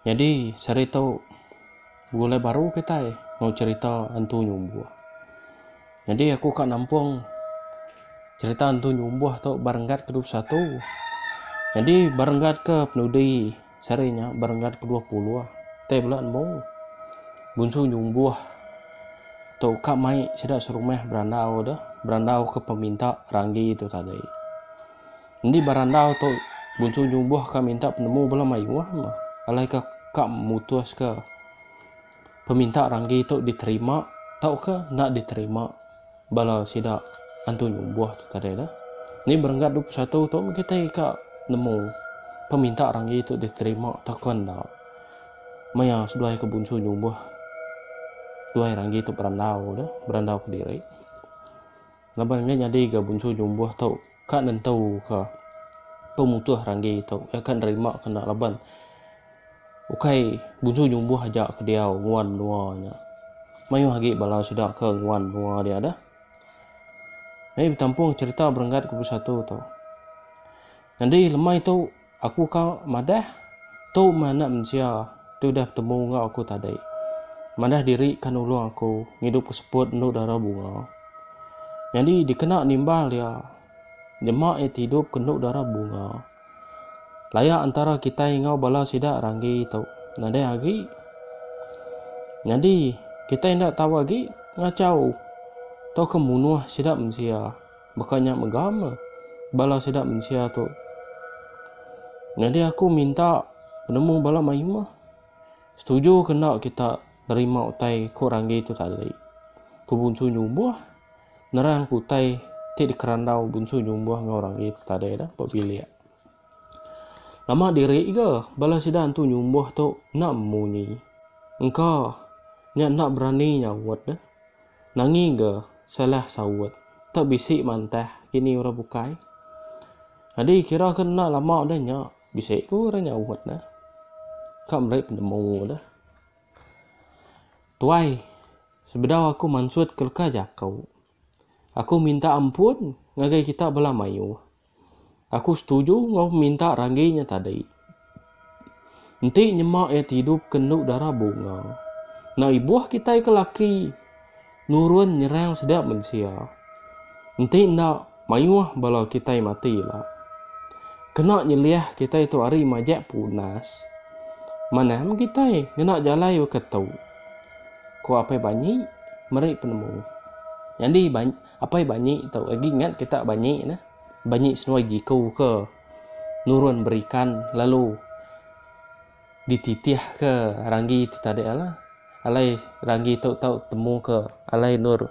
Nyadi sehari tu begulai baru kitai enggau cherita Entu Nyumbuh. Nyadi aku ka nampung cherita Entu Nyumbuh tu ba renggat ke dua puluh satu. Nyadi ba renggat ke penudi sehari nya ba renggat ke dua puluh tai bela nemu Bunsu Nyumbuh tu ka mai sida serumah berandau deh, berandau ke peminta ranggi tu tadi. Endi berandau tu Bunsu nyubuh ka minta penemu bala mayuh mah alai ka ka mutus ka peminta ranggi tu diterima tauka enda diterima bala sida antu nyubuh tu tadi dah. Ni berenggat dua puluh satu tu meh kitai ka nemu peminta ranggi tu diterima tauka enda. Maya seduai ka Bunsu nyubuh duai ranggi tu berandau dah, berandau kediri. Laban enda nyadi ga bunsu jumbuh tu ka nentuka pemutus randi tu. Iya ka nerimak kena laban ukai bunsu jumbuh aja ke diau nguan menua nya. Mayuh agi bala sida ke nguan menua dia deh. Meh betampung cerita berenggat ke besatu tu. Nyadi lemai tu Aku ka madah, tu meh anak mensia ti udah betemu enggau aku tadi. Madah diri ka nulung aku ngidup ke seput endu dara bunga. Nyadi dikena nimbal iya, nyema iya ti idup ke endu dara bunga. Laya entara kitai enggau bala sida ranggi tu nadai agi. Nyadi kitai enda tau agi ngachau tauka munuh sida mensia. Baka nya mega me bala sida mensia tu. Nyadi aku minta penemu bala mayuh meh. Setuju ke enda kita nerima utai ku ranggi tu tali. Ku Bunsu Nyumbuh nerangka utai ti dikerandau Bunsu Nyumbuh enggau ranggi tu tadi dah ba bilik. Nama diri ga bala sida Entu Nyumbuh tu enda munyi. Engka nya enda berani nyaut deh. Nangi ga Salah saut. Tau bisi mantah kini orang bukai. Nyadi kira ke enda lama udah nya bisi ku orang nyaut ne. Ka meri penemu deh. Tuai sebedau aku mansut ke leka jaku. Aku minta ampun ngagai kita bala mayuh. Aku setuju enggau peminta Ranggi nya tadi. Enti nyema iya ti idup ke endu dara bunga, enda ibuh kitai ke laki nurun nyerang sida mensia. Enti enda mayuh bala kitai mati ila. Kena nyeliah kitai tu ari majak punas. Manah meh kitai ngena jalai baka tu, ku Apai Banyi meri penemu. Nyadi Banyi. Apai banyi tu agi ngat kita banyi nah. Banyi senuai jiku ke nurun berikan lalu dititih ke ranggi ti tadi alah. Alai ranggi tu tau temu ke alai nur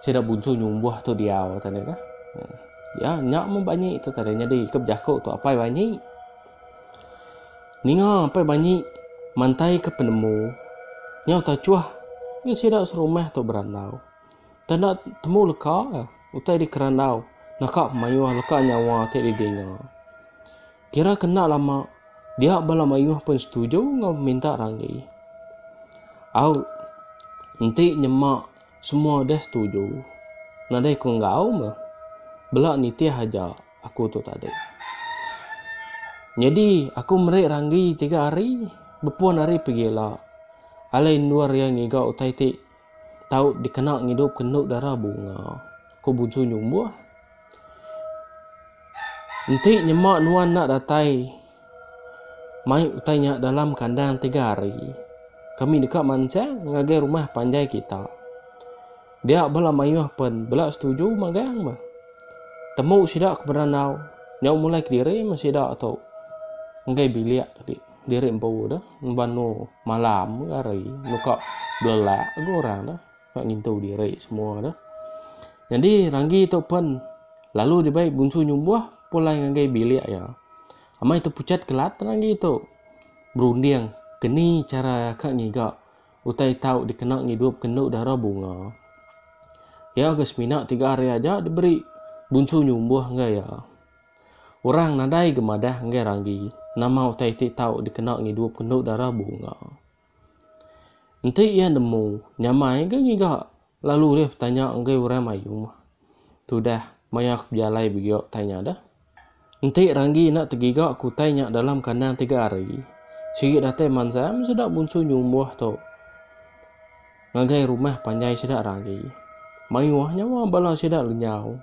sida bunsu nyumbuh tu diau tadi nah. Ya nya meh banyi tu tadi nyadi ke bejaku tu apai banyi. Ninga apai banyi mantai ke penemu nyau tachuh ke sida serumah tu berandau. Tanda temu leka utai dikerandau naka mayuh leka nyawa ti didinga. Kira ke enda lama, dia bala mayuh pun setuju enggau peminta Ranggi. Au enti nyema semua deh setuju, nadai ku enggau meh. Bela nitih aja aku tu tadi. Nyadi aku meri Ranggi tiga hari bepun ari pegila alai endur iya ngiga utai ti Tau dikena ngidupka enda dara bunga, ku Buju nyumbuh. Enti nyema nuan enda datai mai utai nya dalam kandang tiga hari, kami deka mansang ngagai rumah panjai kita. Dia bala mayuh pen bela setuju magang meh. Temu sida ke Berandau nyau mulai kediri meh sida tu ngagai bilik diri empu tu, Nuan Nor. Malam hari nuka belelak ga orang tu ka ngintu diri semua tu. Nyadi ranggi tu pen lalu dibai bunsu nyumbuh pulai ngagai bilik iya. Amai tepuchat kelat ranggi tu berunding keni chara ka ngiga utai tau dikena ngidup ke enda dara bunga. Iya ga semina tiga hari aja diberi bunsu nyumbuh ngagai iya. Orang nadai ga madah enggai ranggi nama utai ti tau dikena ngidup kendu dara bunga. Enti iya nemu, nyamai ga ngiga lalu ulih betanya enggai orang mayuh mah. Tudah, maya aku bejalai biga utai nya dah. Enti ranggi enda tegiga ke utai nya dalam kandang tiga hari, sigi datai mansa meh sida bunsu nyumbuh tu. Ngagai rumah panjai sida Ranggi. Mayuh nyawa bala sida lenyau.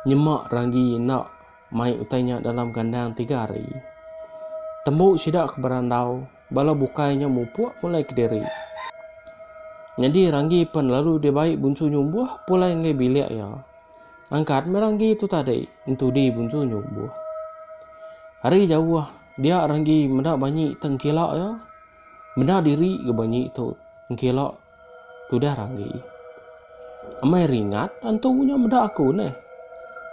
Nyema Ranggi enda mai utai nya dalam kandang tiga hari. Tembu sida ke berandau, bala bukai nya mupuk mulai kediri. Nyadi Ranggi pen lalu dibai Bunsu Nyumbuh pulai enggai bilik iya. Angkat meh Ranggi tu tadi entudi Bunsu Nyumbuh. Ari jauh dia Ranggi meda banyi tengkila iya. Meda diri ga banyi tu engkila tudah ranggi. Amai ringat antu nya meda aku neh.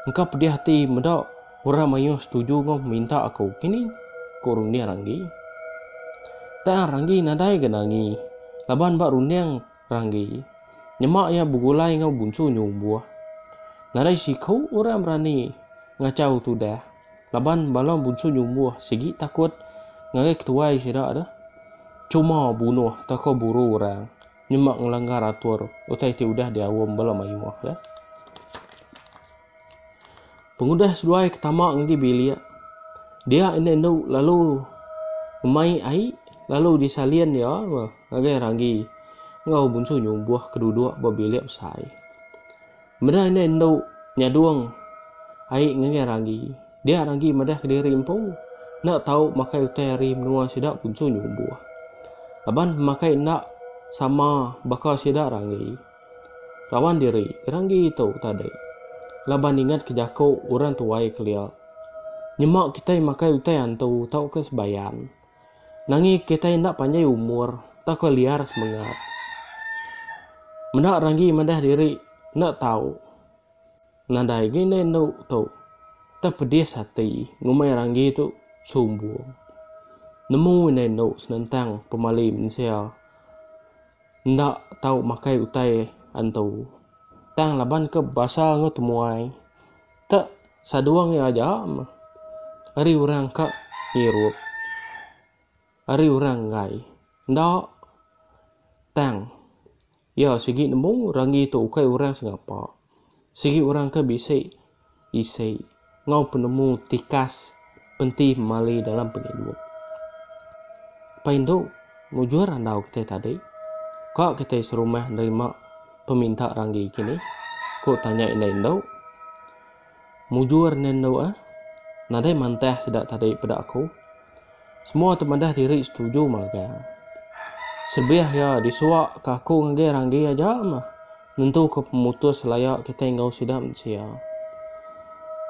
Engka pedih ati meda orang mayuh setuju enggau minta aku kini, ku runding ranggi. Tang ranggi nadai ga nangi laban ba runding ranggi nyema iya begulai enggau bunsu nyumbuh. Nadai siku orang berani ngachau tudah. Laban bala bunsu nyumbuh sigi takut ngagai ketuai sida tu cuma bunuh tauka buru orang nyema ngelanggar atur utai ti udah diaum bala mayuh tu. Pengudah seduai ke tama ngagai bilik, dia enda indu lalu ngemai ai lalu disalin iya ngagai ranggi enggau bunsu nyumbuh ke duduk ba bilik besai. Meda indai endu nyadung ai ngagai ragi, dia ragi madah kediri empu enda tau makai utai ari menua sida punsu nyumbuh. Laban pemakai enda sama baka sida ragi. Raban diri ragi tu tadi laban ingatka jaku orang tuai kelia, Nyema kitai makai utai antu tauka sebayan. Nangi kitai enda panjai umur tauka liar semengat. Meda ranggi madah diri enda tau nadai agi indai endo tu. Tang pedis ati ngumbai ranggi tu sumbung. Nemu indai endo senentang pemali mensia enda tau makai utai antu. Tang laban ke bebasa enggau temuai. Ka saduang iya aja meh. Ari orang ka ngirup. Ari orang enggai. Enda. Tang. Iya sigi nemu Ranggi tu ukai orang sengapa. Sigi orang ke bisi isi enggau penemu tikas. Enti mali dalam pengidup. Pai indu mujur andau kitai tadi, ka kitai serumah nerima peminta ranggi kini? ku tanya indai indu. Mujur nen endu ah, nadai mantah sida tadi peda aku. Semua ti madah diri setuju magang. Sebih iya disuak ka aku ngagai ranggi aja mah Nentuka pemutus laya kitai enggau sida mensia.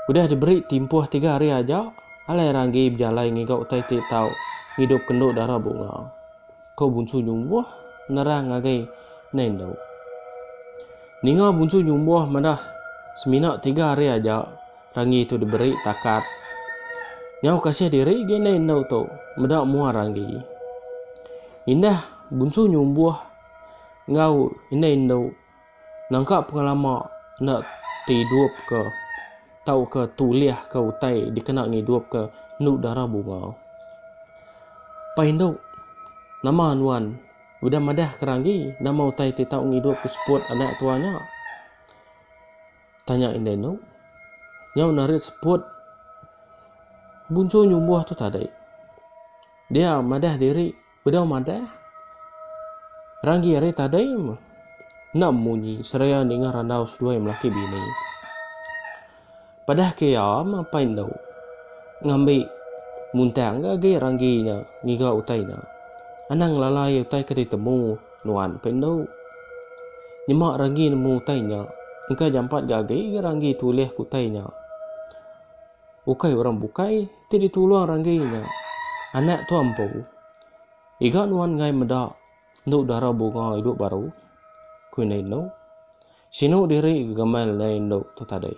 Udah diberi timpuh tiga hari aja, alai orang agi bejalai ngiga utai ti tau ngidup kendu dara bunga, ko Bunsu Nyumbuh nerang ngagai Nai Endu. Ninga Bunsu Nyumbuh madah semina tiga hari aja Ranggi tu diberi takat. Nyau kasih diri agi Nai Endu tu meda mua Ranggi. Indah Bunsu Nyumbuh. enggau indai indu nangka pengelama enda ti idup ke tauka tulih ke utai dikena ngidup ke enu dara bunga. Pai indu nama nuan udah madah ke ranggi nama utai ti tau ngidup ke seput anak tua nya? Tanya indai indu. Nyau narit seput buncu nyumbuh tu tadi. Dia madah diri Bedau madah, Ranggi ari tadai enda munyi seraya ninga randau seduai melaki bini. Padah ke iya mapai endu ngambi muntang ke agi Ranggi nya ngiga utai nya. Anang ngelalai utai ke ditemu nuan pia endu. Nyema Ranggi nemu utai nya engka jampat ga agi Ranggi tulih ke utai nya. Ukai orang bukai ti ditulung ranggi nya anak tua empu. Iga nuan enggai meda endu dara bunga idup baru, ku indai endu. Sinu diri gegamal indai endu tu tadi.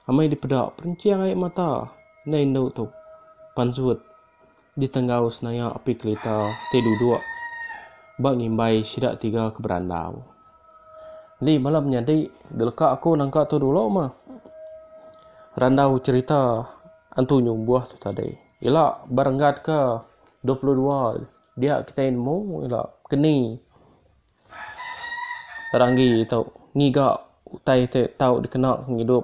Amai dipeda perinching ai mata indai endu tu pansut. Di tenggau senaya api kelita ti duduk ba ngimbai sida tiga ke berandau. Enti bala menyadi deleka aku nangka tu dulu mah randau cherita Antu Nyumbuh tu tadi. Ila ba renggat ke dua puluh dua dia kitai nemu ila keni. Ranggi tu ngiga utai ti tau dikena pengidup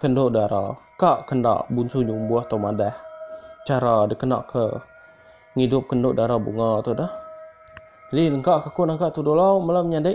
kendu dara ka kenda bunsu nyumbuh tau madah chara dikena ke ngidup kendu dara bunga tu deh. Jadi lengka ke aku naka tudolo mele menyadi.